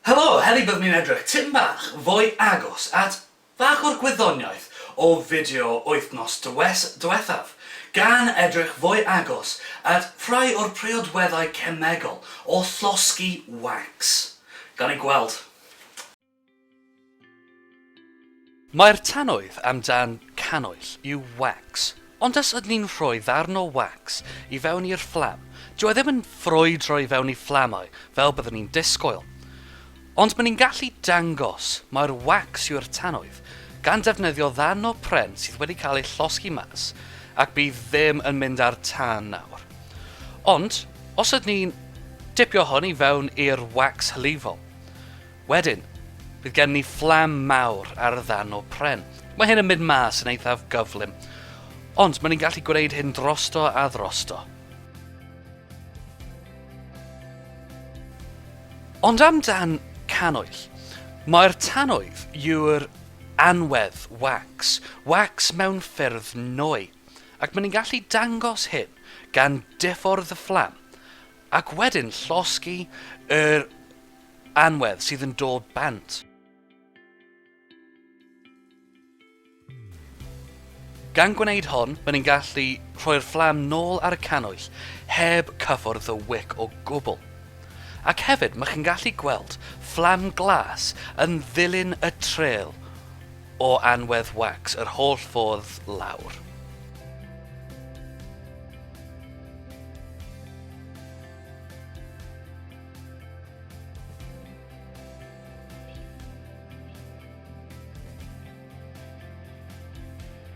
Helo! Heddi byddwn ni'n edrych tipyn bach fwy agos at bach o'r gwyddoniaeth o fideo wythnos diwethaf, gan edrych fwy agos at rhai o'r priodweddau cemegol o llosgi wancs. Gawn ni gweld. Mae'r tannoedd am dan canoell yw wax, ond os ydyn ni'n rhoi ddarn o wax i fewn i'r fflam, dyw e ddim yn ffrwydro i fewn i fflamau fel byddwn ni'n disgwyl. Ond maen ni'n gallu dangos mai'r wax yw'r tannoedd gan defnyddio ddarn o pren sydd wedi cael ei llosgi mas ac bydd ddim yn mynd â'r tân nawr. Ond os ydyn ni'n dipio hwn i fewn i'r wax hylifol, Wedyn, bydd gen ni fflam mawr ar ddan o pren. Mae hyn yn mynd mas yn eithaf gyflym, ond mae ni'n gallu gwneud hyn drosto a drosto. Ond amdan canoell, mae'r tannoedd yw'r anwedd wax, wax mewn ffyrdd nwy, ac mae ni'n gallu dangos hyn gan diffwrdd y fflam ac wedyn llosgi yr Anwedd sydd yn dod bant. Gan gwneud hon, mae'n ni'n gallu rhoi'r fflam nôl ar y cannwyll heb cyffwrdd y wic o gwbl. Ac hefyd, mae chi'n gallu gweld fflam glas yn ddilyn y trêl o anwedd wax yr holl ffordd lawr.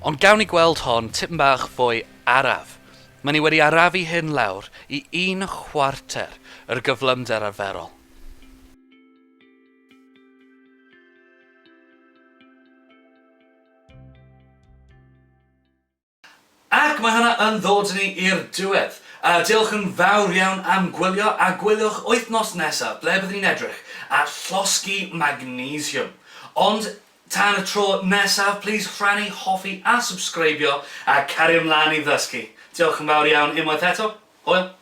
Ond gawn ni gweld hon tipyn bach fwy araf. Mae ni wedi arafu hyn lawr i un chwarter yr gyflymder arferol. Ac mae hwnna yn ddod ni i'r diwedd. Yy, diolch yn fawr iawn am gwylio, a gwyliwch wythnos nesa, ble byddwn ni'n edrych at llosgi magnesiwm. Ond, tan y tro nesaf, plîs rhannu, hoffi a subscribio, a cario mlaen i ddysgu. Diolch yn fawr iawn unwaith eto. Hwyl!